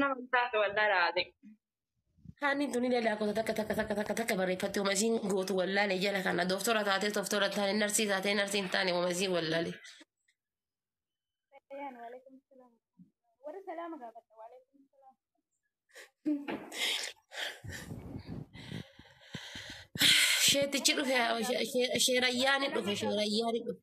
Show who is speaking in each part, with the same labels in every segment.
Speaker 1: Nama taate waldaa raate. Haanni
Speaker 2: tuni dada kota takka takka takka takka takka barreeffatti uma isiin gootu wallaale jala kana dooftora taatee dooftora taane narsii taatee narsii hin taane uma isiin wallaale. Ayaan waalaikum salaam.
Speaker 3: Warri salaama gaafata
Speaker 2: waalaikum salaam. Sheetichi dhufe sheerayyaani dhufe sheerayyaani dhufe.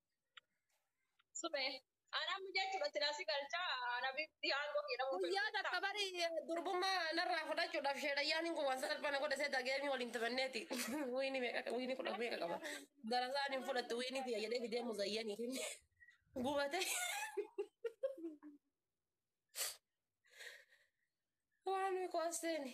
Speaker 1: Sube. Anaa mucaa jechuudha silaasii galchaa anabitti aangoo kee dhabuu Guyyaa takka bari
Speaker 2: durbummaa narraa fudhachuudhaaf sheedhayyaan hin kuwwan salphana godha seeta geemii waliin taphanneeti. Wiini meeqa wiini kudha meeqa qaba. Gara isaan hin fudhattu wiini tiyya jedhee fidee muzayyanii fi gubatee. Waan miqoosseeni.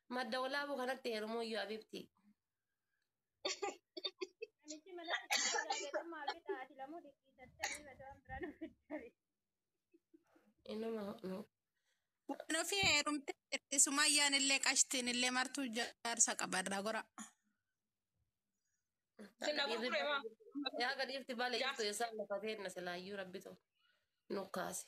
Speaker 2: Madda walaabuu kanatti heerumuu iyyuu abibti. Namichi
Speaker 3: mana keessatti laagatee maal bitaa ati lamuu dhiqqiisattee
Speaker 2: ni bada waan biraa nuuf itti
Speaker 4: Inuma nu. Waan ofii heerumtee jirti. Sumayyaan illee qashtiin illee martuu jaarsa qabarraa gora. Sinna
Speaker 2: gurgure maa? Yaa gadiifti baala jirtu eessaan lafa teenna silaayyuu rabbitu nu kaase.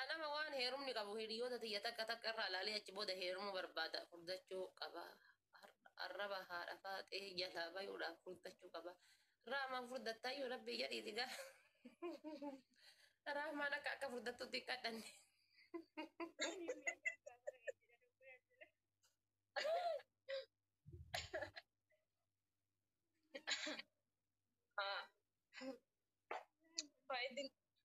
Speaker 1: An
Speaker 2: ama waan heerumni qabu hiriyoota tiyya takka takka irraa laalee achi booda heerumuu barbaada furdachuu qaba arraba haadha faaxee jalaa bayuudhaaf furdachuu qaba raamaan furdattaayyuu rabbii jedhiiti gaa raamaan akka akka furdattutti hin kadhanne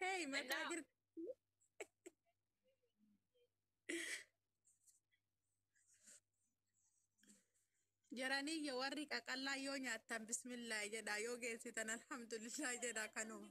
Speaker 4: Hey, mataa jirti. Jaranii yoo warri qaqallaa yoo nyaattan bismillaahi jedha yoo geessitan alhamdulillah jedha kanuma.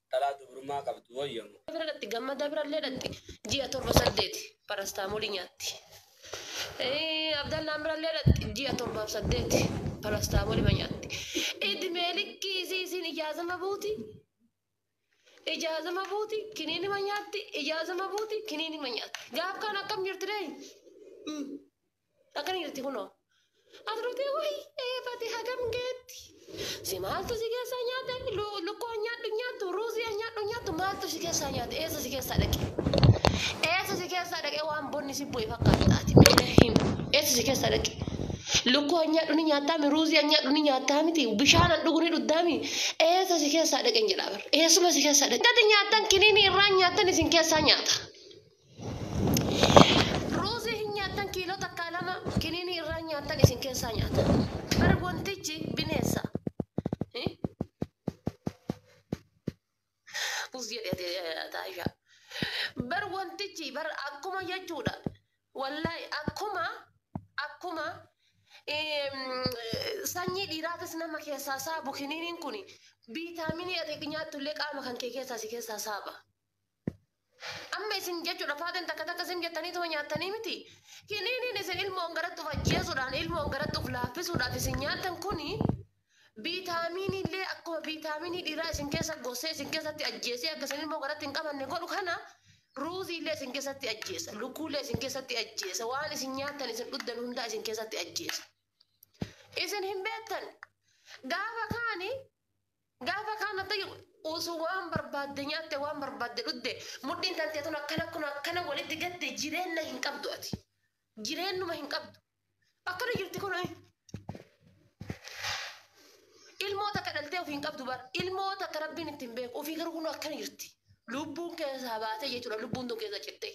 Speaker 5: dhalaa dubrummaa qabdu wayya mo. Bira dhaqxi gammada
Speaker 2: birallee dhaqxi ji'a torba saddeeti parastaamolii nyaatti abdallaan birallee dhaqxi ji'a torbaaf saddeeti parastaamolima nyaatti idmee likkii isii isiin ijaazama buuti ijaazama buuti kiniinima nyaatti ijaazama buuti kiniinima nyaatti gaaf kaan akkam jirti ree Akkana jirti kunoo. Asirratti wayi eefate hagam geetti. Si maaltu si keessaa nyaate lukkoo nyaadhu nyaattu ruuzii nyaadhu nyaattu maaltu si keessaa nyaate eessa si keessaa dhaqe. Eessa si keessaa dhaqe waan bonni si bu'e fakkaatta ati mee him eessa si keessaa dhaqe. Lukkoo nyaadhu ni nyaattaami ruuzii nyaadhu ni nyaattaa miti bishaan an dhugu ni dhuddaami eessa si keessaa dhaqe jedhaa bar eessuma si keessaa dhaqe. Tati nyaattan kiniinii irraa nyaattan isin keessaa nyaata. Ruuzii hin nyaattan kiiloo takkaa lama kiniinii irraa hin nyaattan isin keessaa nyaata. Bar wantichi bineensa. Eh? Us jedhete taasha. Bar wantichi bar akkuma jechuudha. Wallahi akkuma akkuma em, sanyii dhiiraafis nama keessaa saabu kiniiniin kun viitaaminii ati nyaattu illee qaama kan kee keessaa si keessaa saaba. Amma isin jechuudha faaxeen takka takka isin jettanii tuma nyaattanii miti. Kiniiniin isin ilmoon garatti of ajjeesuudhaan ilmoon garatti of laaffisuudhaaf isin nyaattan kuni viitaamiinii illee akkuma viitaamiinii dhiiraa isin keessa gossee isin keessatti ajjeesee akka isin ilmoo garatti hin qabanne godhu kana ruuzii illee isin keessatti ajjeesa lukkuu illee isin keessatti ajjeesa waan isin nyaattan isin dhuddan hundaa isin keessatti ajjeesa. Isin hin beektan gaafa kaani Gaafa kaan ati usu waan barbaadde nyaatte waan barbaadde dhudde mudhiin tantee tun akkana kun akkana walitti gatte jireenna hin qabdu ati. Jireennuma hin qabdu. Akkana jirti kun ilmoo takka dhaltee ofii hin qabdu bar ilmoo takka rabbiin ittiin beeku ofii garuu kun akkana jirti. Lubbuun keessaa baatee jechuudha lubbuun tun keessa cittee.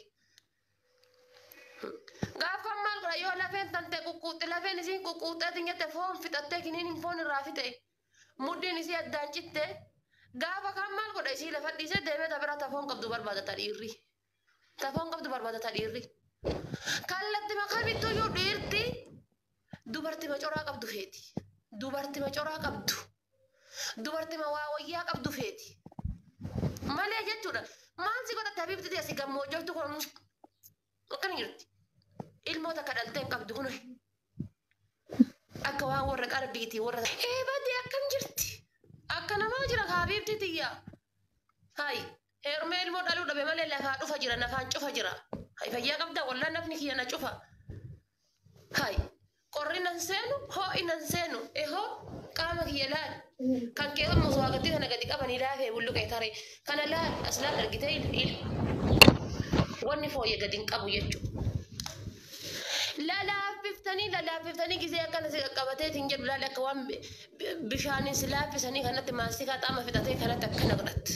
Speaker 2: Gaafa maal godha yoo lafeen tantee quqquuxxe lafeen isiin quqquuxxee ati nyatte foon fixattee kiniin hin foon irraa fixee. Mudhiin isii addaan citte. Gaafa kaan maal godha isii lafa dhiisee deemee ta biraa ta foon qabdu barbaada ta dhiirri. Ta foon qabdu barbaada ta dhiirri. Kallattima kamittuu iyyuu dhiirti dubartima coraa qabdu feeti. Dubartima coraa qabdu. Dubartima waa wayyaa qabdu feeti. Malee jechuudha. Maal si godhatte habiibtitii asi gammoojjoftu kun akkana jirti ilmoo takka dhaltee hin qabdu kunoy akka waan warra qarbiiti warra eebade akkam jirti akka namaa jira haabiibti tiyya hay heerumee ilmoo dhaluu dhabe malee lafaa dhufa jira nafaan cufa jira hay fayyaa qabda wallaan nafni kiyya na cufa hay Qorri nan seenu, hoo'i nan seenu, ehoo, qaama kiyya laali. Kan kee hon mosoo hagatti kana gadi qabanii laafee bulluqee taree. Kana laali, as laali argitee il, il. Wanni fooyye gadi hin qabu jechu. Lalaaffiftanii, lalaaffiftanii gizee akkana si qaqqabatee siin jedhu laali akka waan bishaaniin si laaffisanii kanatti maastikaa xaama fixatee kanatti akkana godhatte.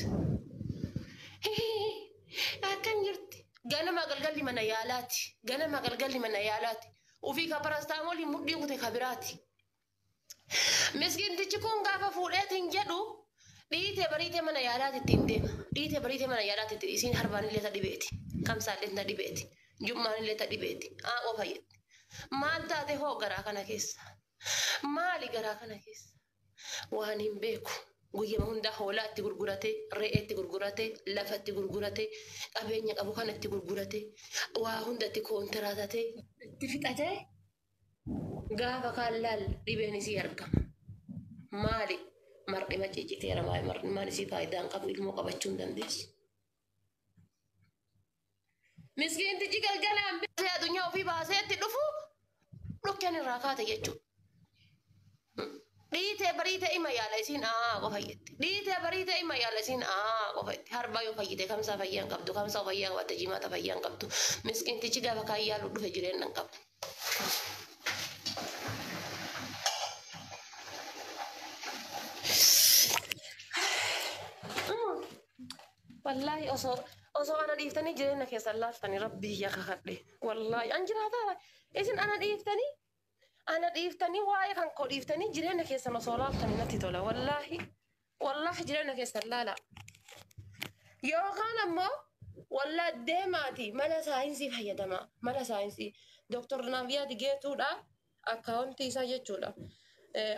Speaker 2: Akkam jirti? Ganama galgalli mana yaalaati. Ganama galgalli mana yaalaati. Ufii ka parastaamoliin mudhii kute ka biraati. Miskiintichi kun gaafa fuudheetiin jedhu dhiite bariite mana yaalaati ittiin deema. Dhiite bariite mana yaalaati itti isiin harbaanillee ta dhibeeti. Kamsaallee ta dhibeeti. Jum'aanillee ta dhibeeti. Aaqoo fayyatti. Maal taate hoo garaa kana keessa? Maali garaa kana keessa? waan hin beeku. Guyyama hundaa hoolaa itti gurgurate, re'ee itti gurgurate, lafa itti gurgurate, qabeenya qabu kana itti gurgurate, waa hunda itti koontiraatate, itti fixate gaafa kaan laal dhibeen isii argama. Maali? Mar'ima cicciteera maali? Mar'imaan isii faayidaa hin qabu ilmoo qabachuu hin dandeessu. Miskiintichi galgalaan baasee addunyaa ofii baasee itti dhufu dhukkeen irraa kaate jechuudha. Dhiitee bariitee ima yaala isiin aa qofa jetti. Dhiitee bariitee ima yaala isiin aa qofa jetti. Harbaa yoo fayyite kamsaa fayyaa hin qabdu kamsaa fayyaa qabatte jimaata fayyaa hin qabdu. Miskiintichi gaafa kaan yaalu dhufe jireenya hin qabu. Wallaahi osoo osoo ana dhiiftanii jireenya keessan laaftanii rabbii kiyya kakadhe. Wallaahi an jiraataa isin ana dhiiftanii ana dhiiftanii waa'ee kan koo dhiiftanii jireenya keessan osoo laaftanii natti tola. Wallaahi wallaahi jireenya keessan laala. Yookaan ammoo wallaa deemaati mala saayinsii fayyadama. Mala saayinsii doktor Naavyaad Geetuudhaa Akkaawuntii isaa jechuudha.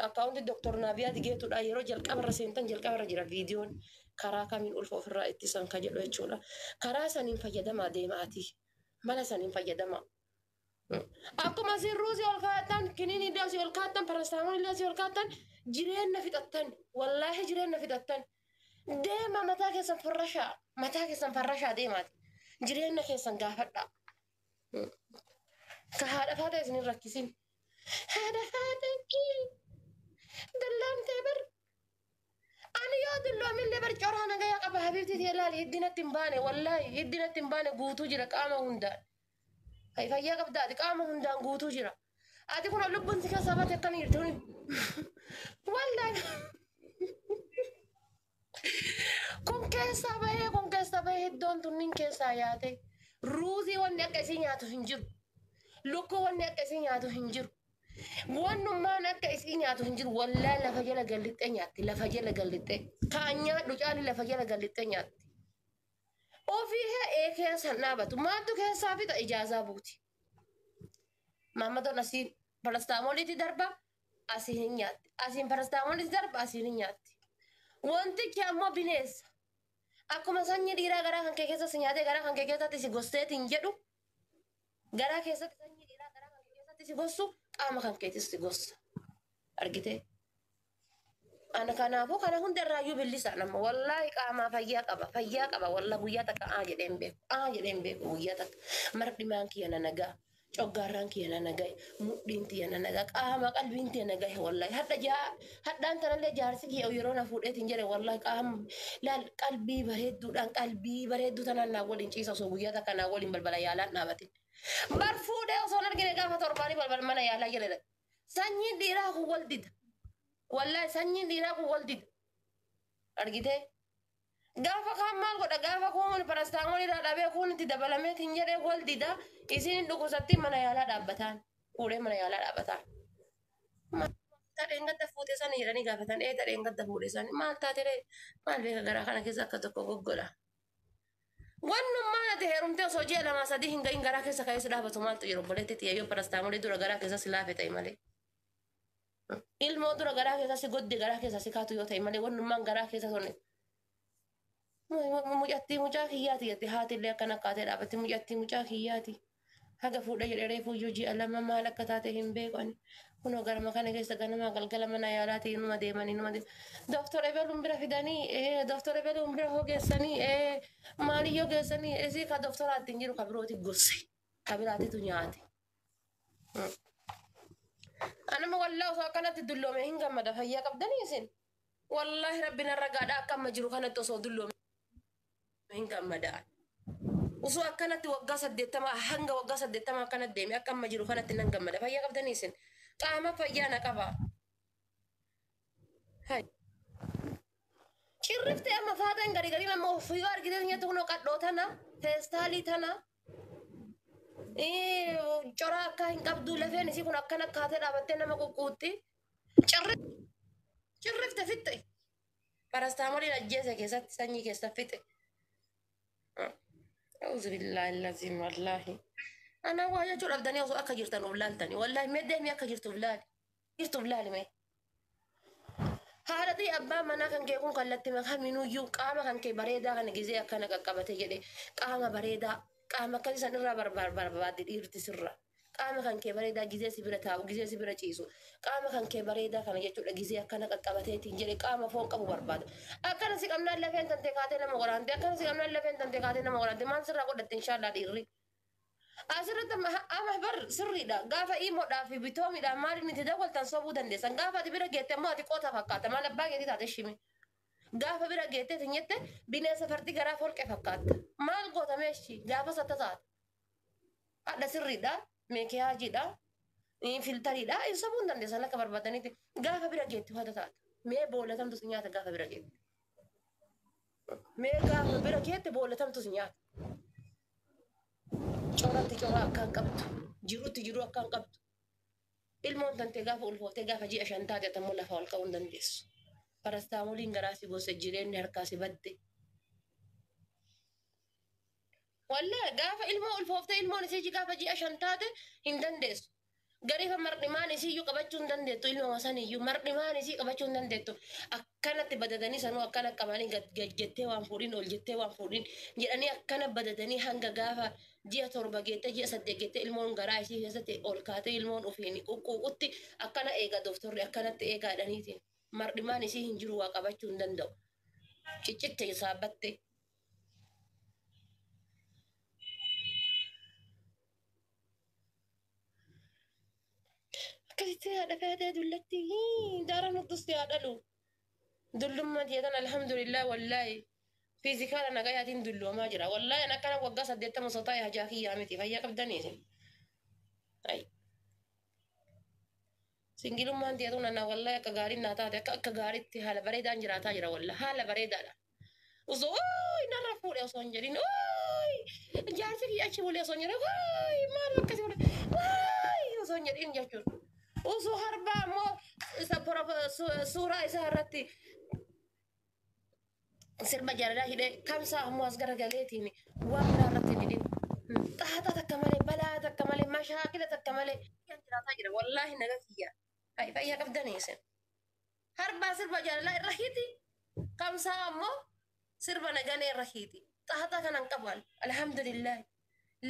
Speaker 2: Akkaawuntii Dooktar Naaviyaa Digeetudha. Yeroo jalqabarra seentan jalqabarra jira viidiyoon karaa kamiin ulfa ofirraa ittisan ka jedhu jechuudha. Karaa saniin fayyadamaa deemaatii. Mala saniin fayyadamaa. Akkuma isin ruuzii ol kaa'attan, kiniinii illee asii ol kaa'attan, parastaamoon illee asii ol kaa'attan, jireenna fixattan. Wallaahi jireenna fixattan. Deema mataa keessan farrashaa. Mataa keessan farrashaa deemaati. Jireenna keessan gaafadhaa. Ka haadha faata isin hin rakkisin. Haadha faata dallaamtee bar. Ani yoo dulloomillee bar coraa nagaya qaba habiibti tee laali hiddi natti hin baane wallaahi hiddi natti hin baane guutuu jira qaama hundaan. Hay fayyaa qabda ati qaama hundaan guutuu jira. Ati kun lubbuun si keessaa baate akkana jirti. Wallaahi. Kun keessaa bahee kun keessaa bahee iddoon tunniin keessaa yaatee ruuzii wanni akka isii nyaatu hin jiru. Lukkuu wanni akka isii nyaatu hin jiru. Wannummaan akka isii nyaatu hin jiru. Wallaa lafa jala gallixxee nyaatti. Lafa jala gallixxee. Kaan nyaadhu caalli lafa jala gallixxee nyaatti. Ofii hee ee keessan dhaabatu. Maaltu keessaa fixa ijaazaa buuti. Maammadoon asii parastaamoliitii darbaa. asiin hin nyaatti. Asiin parastaamolis darba asiin hin nyaatti. Wantichi ammoo bineensa. Akkuma sanyii dhiiraa garaa kan kee keessatti nyaatee garaa kan kee keessatti si gosteetiin jedhu garaa keessatti sanyii dhiiraa garaa kan kee keessatti si gossu qaama kan keetis si gossa. Argitee? Ana kanaafuu kana hundarraayyuu billisaa nama wallaahi qaamaa fayyaa qaba fayyaa qaba wallaahi guyyaa takka aa jedhee hin beeku aa jedhee hin beeku guyyaa takka mardimaan kiyya na nagaa coggaarraan kiyya na nagahe mudhiin tiyya na naga qaama qalbiin tiyya na gahe wallahi hadha jaa hadhaan tanallee jaarsi kiyya yeroo na fuudheetiin jedhe wallahi qaama laal qalbii bareedduudhaan qalbii bareedduu tanaan naa waliin ciisa osoo guyyaa takka naa waliin balbala yaalaan dhaabatin bar fuudhee osoo hin argine gaafa torbaanii balbala mana yaalaa jala dhaqe sanyiin dhiiraa kun wal dida wallahi sanyiin dhiiraa kun wal dida argitee Gaafa kaan maal godha gaafa kuun parastaamoon irraa dhabee kuun itti dabalamee tiin jedhee wal dida isiin hin dhukkubsattiin mana yaalaa dhaabbataan fuudhee mana yaalaa dhaabbataan. Tadheen gadda fuute sani jedhanii gaafatan ee tadheen gadda fuudhe sani maal taatiree maal beeka garaa kana keessa akka tokko goggola. Wannummaan ati heerumtee osoo ji'a lamaa sadii hin gahin garaa keessa ka'ee si dhaabatu maaltu jiru obboleetti tiyya yoo parastaamoolii dura garaa keessa si laafe ta'e malee. Ilmoo dura garaa keessa si godde garaa keessa si kaatu yoo ta'e malee wannummaan garaa keessa sun mucattii mucaa kiyyaati jette haati illee akkana kaatee dhaabatti mucattii mucaa kiyyaati. Haga fuudha jedhe reefuu iyyuu ji'a lama maal akka taate hin beeku ani. Kunoo garama kana keessa ganamaa galgala mana yaalaati inuma deeman inuma deeman. Dooktor Ebeluun bira fidanii ee dooktor Ebeluun bira hoo geessanii ee maaliyyoo geessanii isii ka dooktoraatti hin jiru ka birooti gosse ka biraatitu nyaate. Anuma wallaa osoo akkanatti dulloome hin gammada fayyaa qabdanii isin. Wallaahi rabbi narra gaadha akka amma jiru kanatti osoo dulloome hin gammada. Osoo akkanatti waggaa saddeettama hanga waggaa saddeettama akkanatti deeme akka amma jiru kanatti nan gammada fayyaa qabdanii isin. Qaama fayyaa na qaba. Hai. Cirrifte amma faaxeen gari gari amma ofiyoo argitee nyaata kunoo qadhoo tana feestaalii tana ee, cora akka hin qabdu lafeen isii kun akkana kaatee dhaabattee nama quqquutti. Cirri cirrifte fixxe parastaamoliin ajjeese keessatti sanyii keessa fixxe. Auzu billaahi laziim wallaahi. Anaa waa jechuu dhabdanii osoo akka jirtan of laaltanii wallaahi mee deemii akka jirtuuf laali. Jirtuuf laali mee. Haadhatii abbaan manaa kan kee kun kallatti makaminuyyuu qaama kan kee bareedaa kana gizee akkana qaqqabate jedhe qaama bareedaa qaama akkasii san irraa barbaadde dhiirti sirra. Qaama kan kee bareedaa gizee si bira taa'u gizee si bira ciisu qaama kan kee bareedaa kana jechuudha gizee akkana qaqqabateetiin jedhe qaama foon qabu barbaada. Akkana si qabnaan lafeen tante kaatee nama waraante akkana si qabnaan lafeen tante kaatee nama waraante maal sirraa godhatte inshaallah dhiirri. Asirratti amma amma bar sirriidha. Gaafa iimoodhaa fi bitoomiidhaan maaliin itti dawwaltan sobuu dandeessan. Gaafa ati bira geette immoo ati qoota fakkaata. Maal abbaa keetii taate shimi. Gaafa bira geettee isin jette bineensa fardi garaa folqe fakkaatta. Maal goota meeshi gaafas atta taata. Hadha sirriidha. Meekiyaajiidha. Ni filtariidha. Hin sobuu hin dandeessan akka barbaadanitti. Gaafa bira geette hoo atta taata. Mee boolla tamtu si nyaata gaafa bira geette. Mee gaafa bira keetti boolla tamtus nyaata. Coratti coraa akkaan qabdu. Jirutti jiruu akkaan qabdu. Ilmoon tantee gaafa ulfooftee gaafa ji'a shan taate atammoo lafa ol ka'uu hin dandeessu. Parastaamoliin garaa si gosa jireenyi harkaa si badde. Wallee gaafa ilmoo ulfooftee ilmoon isii gaafa ji'a shan taate hin dandeessu. Garifa mardhimaan isiiyyuu qabachuu hin dandeettu ilmama saniyyuu mardhimaan isii qabachuu hin dandeettu akkanatti badadanii sanuu akkana qabanii gad gad jettee waan fuudhin ol jettee waan fuudhin jedhanii akkana badadanii hanga gaafa ji'a torba geettee ji'a saddeet geettee ilmoon garaa isii keessatti ol kaatee ilmoon ofiin quqquuqutti akkana eega doktorri akkanatti eegaa jedhaniiti mardhimaan isii hin jiru waa qabachuu hin danda'u ciccitte saabbattee. akkasitti haadha feetee dullatti daara nuttus yaa dhalu dullummaa tiyya tan alhamdulillah wallaahi fiizikaala nagayaatiin dulloomaa jira wallaahi an akkana waggaa saddeettama osoo taa'e hajaa kiyyaa miti fayyaa qabdanii isin. Ayy. Singilummaan tiyatu nana wallahi akka gaariin naa taate akka akka gaariitti haala bareedaan jiraataa jira wallahi haala bareedaadha. Osoo ooyi narra fuudhe osoo hin jedhin ooyi jaarsi kiyya achi bulee osoo hin jedhin ooyi maal akkasii godhe ooyi osoo hin jedhin jechuudha. Osoo harbaa immoo isa porof- su- suuraa isaa irratti sirba jaalalaa hidhee kamsaa ammoo as garagaleetiin waan biraa irratti didin xaaxaa takka malee balaa takka malee mashaakila takka malee kan jiraataa jira wallaahi naga kiyya Hay, fayyaa qabdanii isin harbaa sirba jaalalaa irra hiti kamsaa ammoo sirba naganee irra hiti xaaxaa kanan qaban alhamdulillah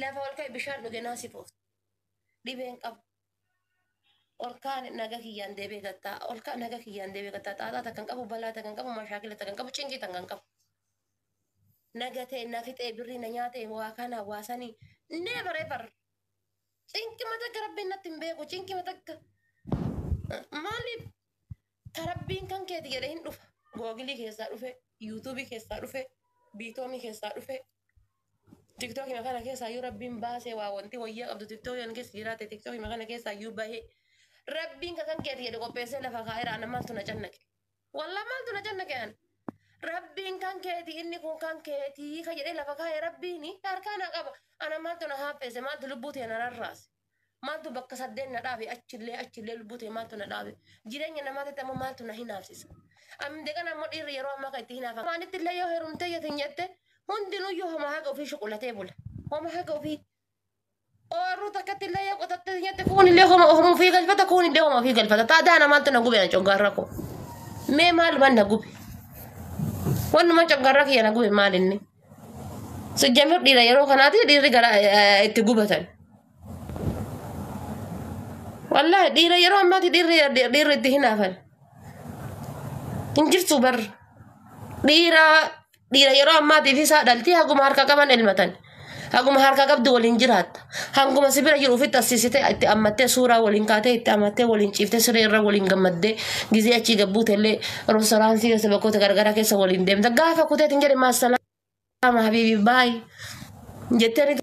Speaker 2: lafa ol ka'e bishaan dhuge naasifoofte dhibeen qabu Olkaa naga kiyyaan deebee gattaa. Olkaa naga kiyyaan deebee gattaa. Xaaxaa takka hin qabu, balaa takka hin qabu, mashaakila takka hin qabu, cinqii takka hin qabu. Naga ta'e na fixee birrii na nyaate waa kana waa sanii never ever. Cinqima takka rabbiin natti hin beeku cinqima takka. Maaliif Ta rabbiin kan keeti jedhe hin dhufa. Googilii keessaa dhufe, yuutuubii keessaa dhufe, biitoomii keessaa dhufe. Tiktookii kana keessaa yoo rabbiin baasee waa wanti wayyaa qabdu tiktookii kana keessa jiraate tiktookii kana keessaa yoo bahee rabbiin kan keeti jedhe qopheessee lafa kaa'eera ana maaltu na cannaqe. Wallah maaltu na cannaqe an. Rabbiin kan keeti inni kun kan keeti ka jedhee lafa kaa'e rabbiin harkaa na qaba. Ana maaltu na haaffeesse maaltu lubbuu tee na rarraase. Maaltu bakka saddeet na dhaabe achillee achillee lubbuu ta'e maaltu na dhaabe. Jireenya namaa ta'e ammoo maaltu na hinaafsisa. Amde kana ammoo dhiirri yeroo ammaa kan itti hinaafa. Maalitti illee yoo herumtee yoo tinyette hundinuyyuu homa haga ofii shuqulatee bula. Homa haga ofii oorruu takkatti illee yoo qotattee tinyette kuun illee homa homa ofii galfata kuun illee homa ofii galfata. Taadaa namaatti na gube na coggaarra koo. Mee maalumaan na gube? Wannumaan coggaarra kiyya na gube maalinni? Sijjamir dhiira yeroo kanaati dhiirri gara itti gubatan. Wallaahi dhiira yeroo ammaati dhiirri dhiirri itti hinaafan. Hin jirtu bar dhiira dhiira yeroo ammaatiif isaa dhalti haguma harka qaban elmatan. Haguma harka qabdu waliin jiraatta. Hanguma si bira jiru ofitti assisitee itti ammattee suuraa waliin kaatee itti ammattee waliin ciiftee siree irra waliin gammaddee gizee achii gabbuute illee roostoraansii keessa bakkoota garagaraa keessa waliin deemta. Gaafa kuteet hin jedhe maasalaama habiibii baay jettee ni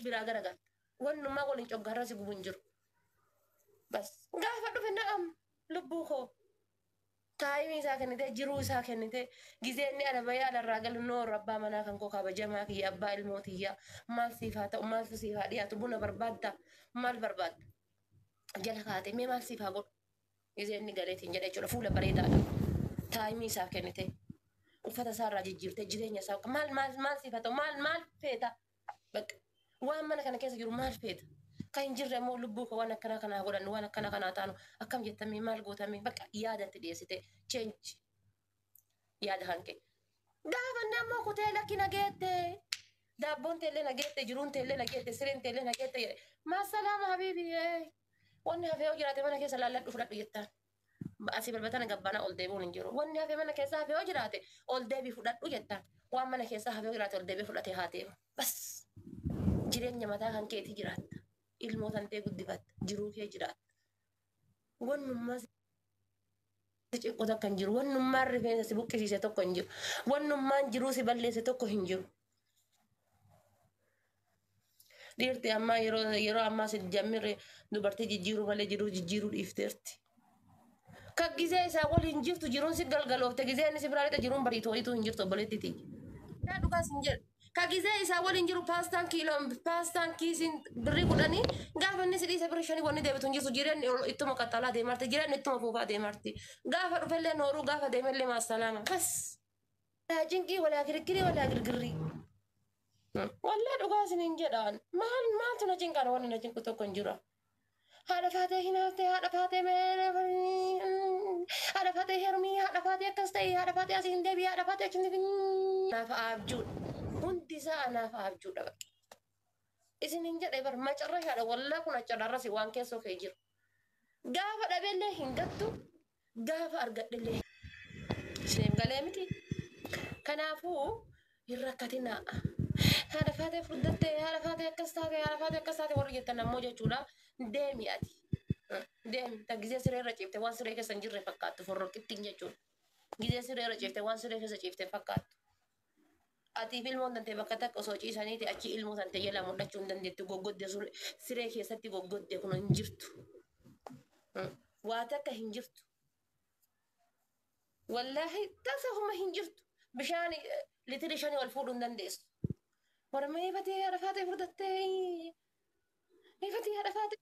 Speaker 2: biraa garagalte. Wannummaa waliin coggaarra si gubu hin jiru. Bas gaafa dhufe na'am lubbuu koo. taayimii isaa kennitee jiruu isaa kennitee gizee inni ala bahee ala irraa galu noor abbaa manaa kan koo kabajamaa kiyya abbaa ilmoo tiyyaa maal siif haa ta'u maaltu siif haa dhiyaatu buna barbaadda maal barbaadda jala kaatee mee maal siif haa godhu gizee inni galeetiin jedha jechuudha fuula bareedaadha taayimii isaa kennitee uffata isaa irraa jijjiirtee jireenya isaa maal maal maal siif haa ta'u maal maal feeta Bakka waan mana kana keessa jiru maal feeta? Kan hin jirre immoo lubbuu koo waan akkanaa kanaa godhan waan akkanaa kanaa taanu akkam jettamee maal gootamee bakka yaada itti dhiyeessite cheenji yaada kan kee. Gaafa inni ammoo kutee lakki na geette daabboon teellee na geette jiruun teellee na geette sireen teellee na geette jedhe maasalaama habiibi wanni hafee yoo jiraate mana keessa laalladhu fudhadhu jettaan. Asii balbatana gabbana ol deebi'uun hin jiru. Wanni hafe mana keessaa hafe yoo jiraate ol deebii fudhadhu jettaan. Waan mana keessaa hafe yoo jiraate ol deebii fudhatee haa deemu. Bas jireenya mataa kan keetii jiraatta. Ilmoo tantee guddifatta. Jiruu kee jiraatta. Wannummaa si cinqu tokko hin jiru. Wannummaan rifeensa si buqqisiise tokko hin jiru. Wannummaan jiruu si balleesse tokko hin jiru. Dhiirti ammaa yeroo yeroo ammaa si jammirre dubartii jijjiiruu malee jiruu jijjiiruu dhiifteerti. Kan gizee isaa waliin jirtu jiruun si galgaloofte gizee inni si biraa lixa jiruun bariitu wayiitu hin jirtu obboleetti tiyya. Yaa dhugaa sin jedhu. Ka gizee isaa waliin jiru paastaan kiiloon paastaan kiisiin birrii kudhanii gaafa inni si dhiise birrii shanii wanni deebitu hin jirtu jireenyi ol- ittuma qaxxaalaa deemarti jireenyi ittuma fuufaa deemarti. Gaafa dhufellee nooruu gaafa deemellee maasalaama. Bas. Walaa cinqii walaa kirikkirii walaa girgirrii. Wallee dhugaa isiniin jedhaan maal maaltu na cinqaan wanni na cinqu tokko hin jiru. Haadha faatee hinaaftee haadha faatee mee haadha faatee hermii haadha faatee akkas ta'e haadha faatee asii hin deebi'e haadha faatee achi hin deebi'e anaaf abjuudha. Hundi isaa anaaf abjuudha bara. Isiniin jedhe bara macarrashaadha wallaa kun achadharrasi waan keessoo kee jiru. Gaafa dhabeellee hin gattu gaafa argadhellee isiniif galee miti. Kanaafuu hin rakkatinaa. Haadha faatee furdattee, haadha faatee akkas taate, haadha faatee akkas taate warri jettan ammoo jechuudha. Deemi ati. Deemi. Ta gizee siree irra ciifte waan siree keessa hin jirre fakkaattu forroqittiin jechuudha. Gizee siree irra ciifte waan siree keessa ciifte fakkaattu. Atiif ilmoon tante bakka takka osoo ciisaniiti achi ilmoo tante jala mul'achuu hin dandeettu goggodde sun siree keessatti goggodde kun hin jirtu. Mm. Waa takka hin jirtu. Wallaahi tasa homa hin jirtu. Bishaan eh, litiri shanii ol fuudhuu hin dandeessu. Mormee batee haadha faatee furdattee. Ifatii haadha faatee.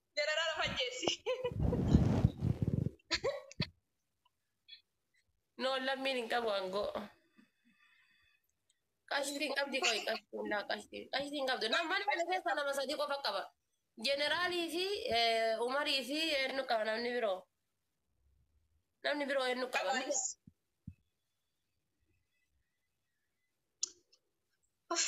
Speaker 1: Jalaraa lafa ajjeessi.
Speaker 2: No lammiin hin qabu aangoo. Qashtiin qabdi qoy qashtiin laa qashtiin qashtiin qabdu nama mana kana keessa nama sadii qofa qaba. Jeneraalii fi eh, Umarii fi eenyu qaba namni biroo. Namni biroo eenyu qaba. Qabaanis. Uff.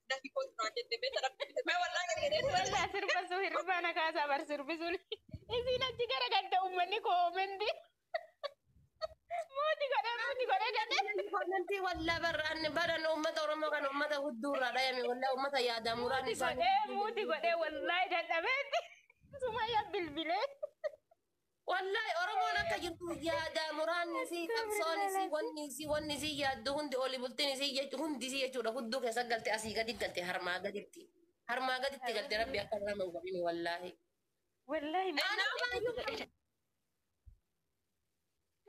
Speaker 1: dafii koo duraan jette beekta rabbi mee wallaa gadi jedhee sirba. Waldaa sirbasuu
Speaker 3: hirribaa na kaasaa bar sirbisuun. Isiin achi gara gadda uummanni koomendi. Muuti godhee muuti godhee gadhee. Komentii wallaa
Speaker 2: barraan baran uummata Oromoo kan uummata hudduu irraa dhayame wallaa uummata yaadaa muraan Muuti isaanii. godhee muuti
Speaker 3: godhee wallaahi dadhabeetti. Sumayyaa bilbilee.
Speaker 2: Wallahi oromoon akka jirtu yaadaa muraanni isii qabsoon isii wanni isii wanni isii yaaddu hundi oli bultin isii jechu hundi isii jechuudha hudduu keessa galte asii gadi galte harmaa gaditti harmaa gaditti galte rabbi akka nama hin godhini wallahi. Wallahi
Speaker 3: Anaa baay'ee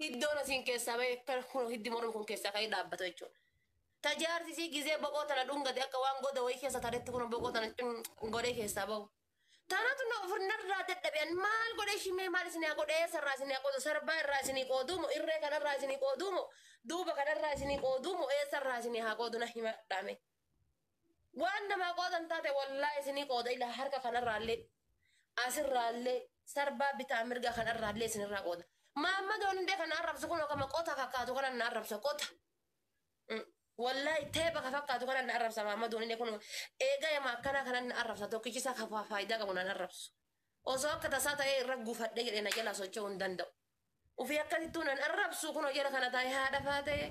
Speaker 2: Hiddoon asiin keessaa ba'ee akka kun hiddi mormi kun keessaa ka'ee dhaabbata jechuudha. Ta jaarsi isii gizee boqoo tana dhungate akka waan goda wayii keessa taretti kun boqoo tana cun godhee keessaa ba'u. Tanatu na ofirnarraa dadhabe an maal godhee shimee maal isinii haa godhu eessa irraa isinii haa qoodu sarbaa irraa isinii qooduu moo irree kanarraa isinii qooduu moo duuba kanarraa isinii qooduu moo eessa irraa isinii haa qoodu na himadhaa mee. Waan namaa qoodan taate wallaahi isinii qooda ilaa harka kanarraallee asirraallee sarbaa bitaa mirga kanarraallee isinirraa qooda. Maammadoon hundee kana arrabsu kunoo kama qota fakkaatu kanan na arrabsa qota. Wallaahi teepha ka fakkaatu kanan na arrabsa maammadoon hundee kunoo eega yama akkanaa kanan na arrabsa tokkichi isaa ka faayidaa qabu nan arrabsu. Osoo akka tasaa ta'ee irra gufadhee jedhee na jalaa socho'uu hin danda'u. Ufii akkasittuu nan arrabsu kunoo jara kana taa'ee haadha faatee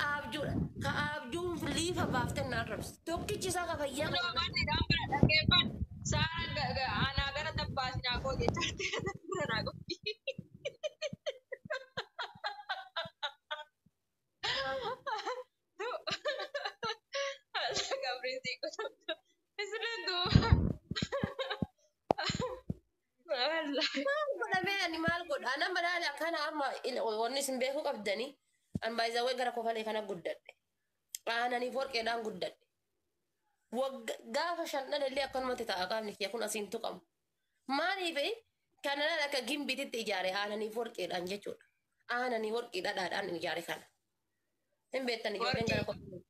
Speaker 2: aabjuudha. Ka aabjuun liifa baafteen na arrabsu. Tokkichi isaa ka fayyaa Kunoo qabu. amanti isaan bira dhaggeeffadhu.
Speaker 1: Saaraan ga- ga- anaa gara tabbaa sinaa goote jettee kana bira naa goote. Haala gabriin sii godhamtu. Isileen duuba. Maal godha mee
Speaker 2: ani maal godha? Ana madaali akkana amma il- wanni isin beekuu qabdani. An baay'isawwan gara kofalee kana guddadhe. Aananiif warqeedhaan guddadhe. Wagga gaafa shan dhalallee akkanumatti ta'a qaamni kiyya kun asiin tuqamu. Maaliif kanaan akka gimbiititti ijaare aananiif warqeedhaan jechuudha. Aananii warqii dhadhaadhaan ijaare kana. Hin beektan ijoolleen gara Warqii. kofalee.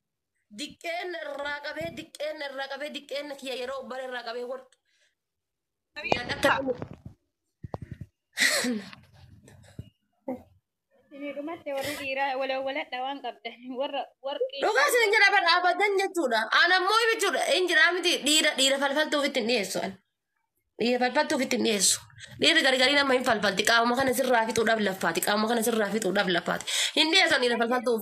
Speaker 2: Diqqeen irraa qabee diqqeen irraa qabee diqqeen kiyya yeroo bara irraa qabee warqii.
Speaker 3: Guyyaan akka dhumu. Isinii dhumatte warri dhiiraa walawwaladha waan
Speaker 2: qabdan warra warqii. Dhugaa isin jira bara abadan jechuudha. An ammoo jechuudha hin jira miti dhiira dhiira falfaltuuf itti hin dhiyeessu. an. Dhiira falfaltuuf itti hin dhiyeessu. Dhiirri gargarii nama hin falfalti qaama kana sirraa fixuudhaaf laffaati qaama kana sirraa fixuudhaaf laffaati. Hin dhiyeessan dhiira falfaltuuf.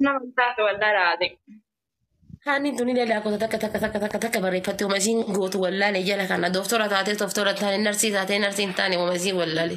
Speaker 1: Nama taate waldaa raate. Haanni
Speaker 2: tuni leelaa gosa takka takka takka takka takka barreeffatti uma isiin gootu wallaale jala kana dooftora taatee dooftora taane narsii taatee narsii hin taane uma isiin wallaale.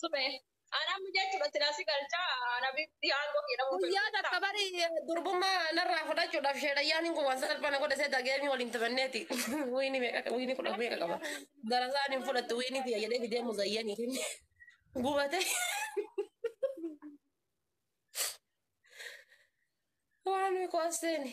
Speaker 1: Sube. Anaa miidhaa jechuudha silaa si galchaa anaa bitti aangoo kee dhabuu Guyyaa takka bari
Speaker 2: durbummaa narraa fudhachuudhaaf sheedhayyaan hin kuwwan salphana godha seeta geemii waliin taphanneeti. Wiini meeqa wiini kudha meeqa qaba. Darasaan hin fudhattu wiini tiyya jedhee fidee muzayyanii kenne. Gubate. Waan koosteeni.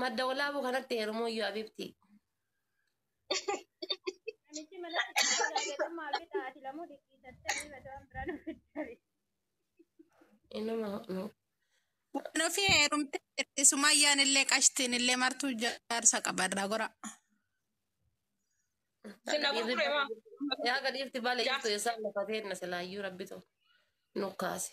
Speaker 2: Madda walaabuu kanatti heerumuu iyyuu abibti. Namichi
Speaker 3: mana keessatti laagatee maal bitaa ati lamuu dhiqqiisattee ni bada
Speaker 2: waan biraa nu fiddabe.
Speaker 4: Inuma nu. Waan ofii heerumtee jirti sumayyaan illee qashtiin illee martuu jaarsa qabarraa gora. Sila
Speaker 1: gurgure maa? Yaa gadiifti
Speaker 2: baala jirtu eessaan lafa teenna silaayyuu rabbitu nu kaase.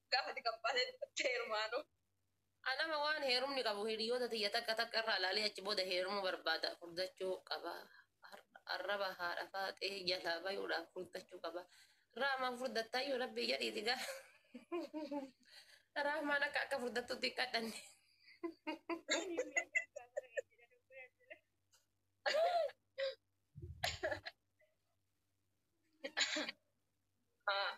Speaker 1: gaafati qabbaalee dubbatti heerumaanu. Anama
Speaker 2: waan heerumni qabu hiriyoota tiyya takka takka irraa ilaalee achi booda heerumuu barbaada furdachuu qaba arraba haadha faaxee jalaa bayuudhaaf furdachuu qaba raamaan furdattaayyuu rabbii jedhiiti gaa raamaan akka akka furdattutti hin kadhanne Ah.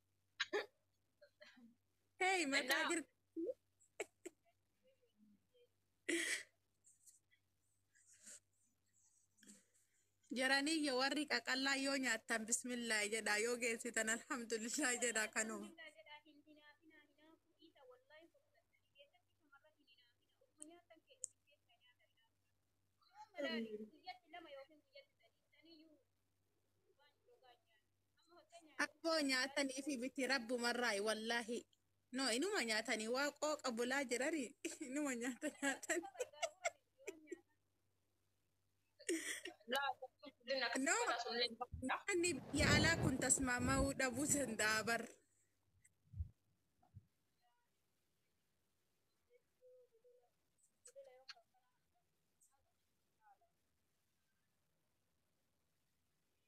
Speaker 4: Hey, mataa jirti. Jaranii yoo warri qaqallaa yoo nyaattan bismillaahi jedhaa yoo geessitan alhamdulillah jedhaa kanuma.
Speaker 3: Akkoo nyaatanii
Speaker 4: fi biti rabbumarraayi wallaahi. No inuma nyaatanii waa qooqa bulaa jirari inuma nyaata nyaatan.
Speaker 1: No nyaanni biyya
Speaker 4: alaa kun tasmaama'uu dhabuu danda'a bar.